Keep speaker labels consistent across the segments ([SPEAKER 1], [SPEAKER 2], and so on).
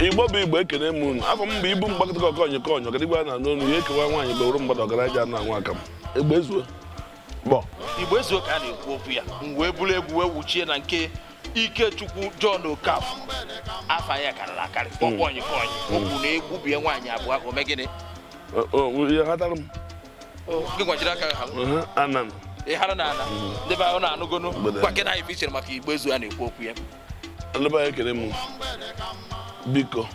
[SPEAKER 1] igbo bụ igbo ekene m unu afa m bụ ibu mgbakọta ọkọ onye ka onye ọgadigwe a na-anụ olu ya ekewa nwaanyị gbaworo mgbada ọgaranya na nwa aka m igbo ezuo ọ bụ
[SPEAKER 2] igbo ezuo ka a na-ekwu okwu ya m wee buru egwu wee wuchie na nke ikechukwu john okafọ afa ya karịrị akarị ọkpọ onye ka onye o kwuru na egwu bie nwaanyị abụọ ka ome gịnị O- o-
[SPEAKER 1] ihe ghatara m gị gwajiri
[SPEAKER 2] aka ha Ehe, anan ị
[SPEAKER 1] hara na ala
[SPEAKER 2] ndị be anyị na-anụgonu Mgbede. gwakene anyị ife i chere maka igbo ezuo a na-ekwu okwu ya ndị be
[SPEAKER 1] ekene m biko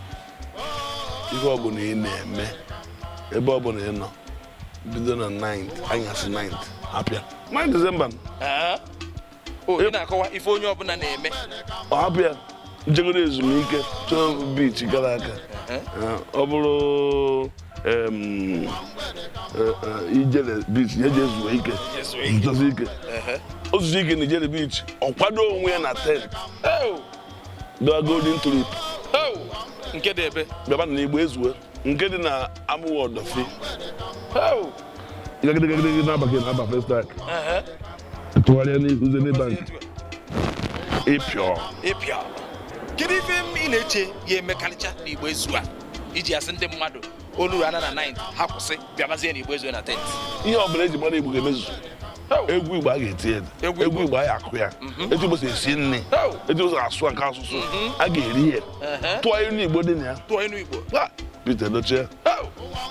[SPEAKER 1] ife ọbụla ị na-eme ebe ọ bụla ị nọ bido na 9 anyasị 9 hapụ ya 9 December
[SPEAKER 2] Ee. O, ị na-akọwa ife onye ọbụla na-eme ọ hapụ
[SPEAKER 1] ya jegodu ezumike chọọ beach gara aga Ee, ọ bụrụ ijele beach ya jee zuo ike zuzuozie ike o zuzuo ike na ijele beach ọ kwado onwe ya na 10th gaa golden tulip
[SPEAKER 2] nke dị ebe bịaba na igbo ezuo
[SPEAKER 1] nke dị na amuwo odofin gagidegagidegide n'abalị na-aba festac tụgharịa n'ihu zenith bank i
[SPEAKER 2] pio kedu ife ị na-eche ya emekarịcha na igbo ezuo a i ji asị ndị mmadụ olu ha na na 9 ha kwụsị bịabazie na igbo ezuo na 10th ihe ọ bụla eji
[SPEAKER 1] mara igbo ga-emezu egwu igbo a ga-eti ya Egwu egwu igbo a ga-akụ ya etu igbo si esi nri Oh. etu igbo si asụ nke asụsụ a ga-eri ya Ehe. tụọ ilu igbo dị na ya tụọ inu igbo Ah, Pete Edochie Oh,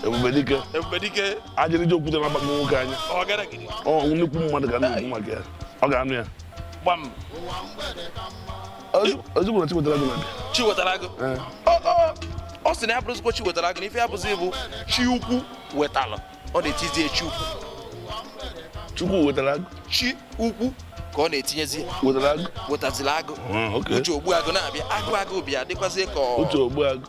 [SPEAKER 1] ebube dike ebube dike ajịrịja okwute na-agbakpọ nwoke anya ọgadagidi ọ nnukwu mmadụ ka a na-ekwu maka ya ọ ga-anọ ya gbam ozugbo na chiwetalu agụ
[SPEAKER 2] na-abịa chiwetalu agụ ọ sị na ya abụrọzikwa chiwetalu agụ na ife ya bụzi bụ chi ukwu wetara ọ na-etizie chi ukwu
[SPEAKER 1] chukwu wetara agụ chi
[SPEAKER 2] ukwu ka ọ na-etinyezi wetara agụ wetazila agụ ah, uche ogbuagụ na-abịa agụ agụ bịa dịkwazie ka uche ogbuagụ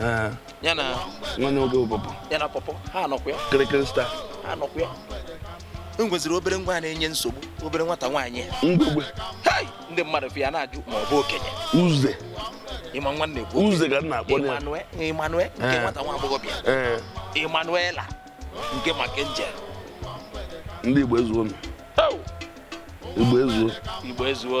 [SPEAKER 2] Eh. ya na nwanne nwoke
[SPEAKER 1] pawpaw ya na pawpaw
[SPEAKER 2] ha anọkwa ya kịrịkịrị star
[SPEAKER 1] ha anọkwa
[SPEAKER 2] ya e nweziri obere nwa na-enye nsogbu obere nwata nwaanyị mgbegbe
[SPEAKER 1] ndị mmadụ
[SPEAKER 2] fụ ya na-ajụ ma ọ bụ okenye uze
[SPEAKER 1] ị ma
[SPEAKER 2] nwa a na-ekwu uze ka a na-akpọ
[SPEAKER 1] ya Emmanuela nke
[SPEAKER 2] eh. nwata nwa agbọghọbịa eh. Emmanuela nke mark
[SPEAKER 1] angel ndị Igbo ezuo Igbo ezuo Igbo ezuo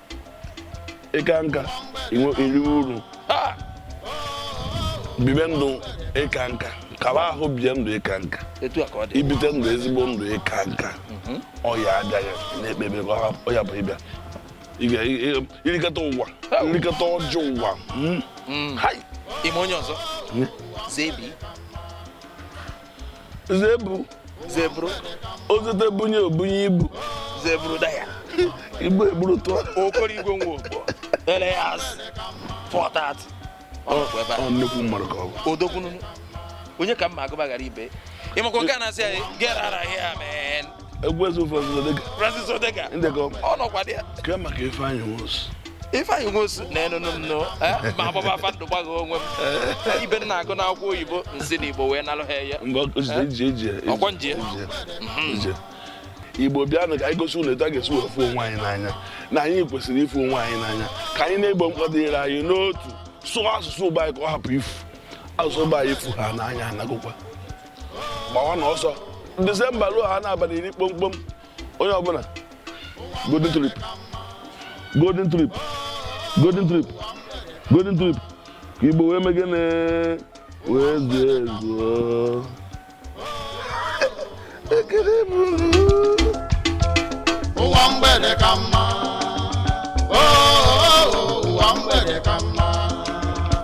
[SPEAKER 1] ịka nka iri uru bibe ndụ ịka nka kaba ahụ bie ndụ ịka nka ibite ndụ ezigbo ndụ ịka nka mhm. ọya abịaghị na-ekpebe ọ ya bụ ịbịa irikọta ụwa irikọta ọjọọ ụwa hmm? hmm.
[SPEAKER 2] ime onye ọzọ hmm? zebi Zebu Zebru
[SPEAKER 1] ozute bunye obunye ibu Zebrudaya
[SPEAKER 2] ibu eburu
[SPEAKER 1] tụọ Okoroigwe Nwogbo
[SPEAKER 2] alias four
[SPEAKER 1] thirty ọ nnukwu mmadụ ka ọ bụ odogwu
[SPEAKER 2] nụnụ onye ka mma agụba ghara ibe ịmakwa nke a na-asị ya get out of here man egwu eze
[SPEAKER 1] Francis Odega Francis
[SPEAKER 2] Odega ndekọ ọ nọkwa dị ya kee maka
[SPEAKER 1] Ifeanyi
[SPEAKER 2] Nwosu Ifeanyi Nwosu na-enụnụ m nụ eh, ma agbaba afa ndụ gbaghị onwe m eh, ife m na-agụ n'akwụkwọ oyibo nsi na Igbo wee nalụ ha ya eh, ọkwọ nje
[SPEAKER 1] mhm. Igbo bịanụ ka anyị gosi ụwa etu a ga-esi wee fụ onwe anyị n'anya na anyị kwesịrị ịfụ onwe anyị n'anya ka anyị na-egbo mkpa dịrị anyị n'otu sụọ asụsụ Igbo anyị ka ọ hapụ ifu asụsụ Igbo anyị ịfụ ha n'anya anagụkwa gbawanụ ọsọ Disemba ruo ha n'abalị iri kpomkpom onye ọbụla Golden Tulip Golden Tulip Golden Tulip Golden Tulip ka Igbo wee mee gịnị wee zuo ezuo ekele
[SPEAKER 3] bụrụ ụwa mgbede ka mma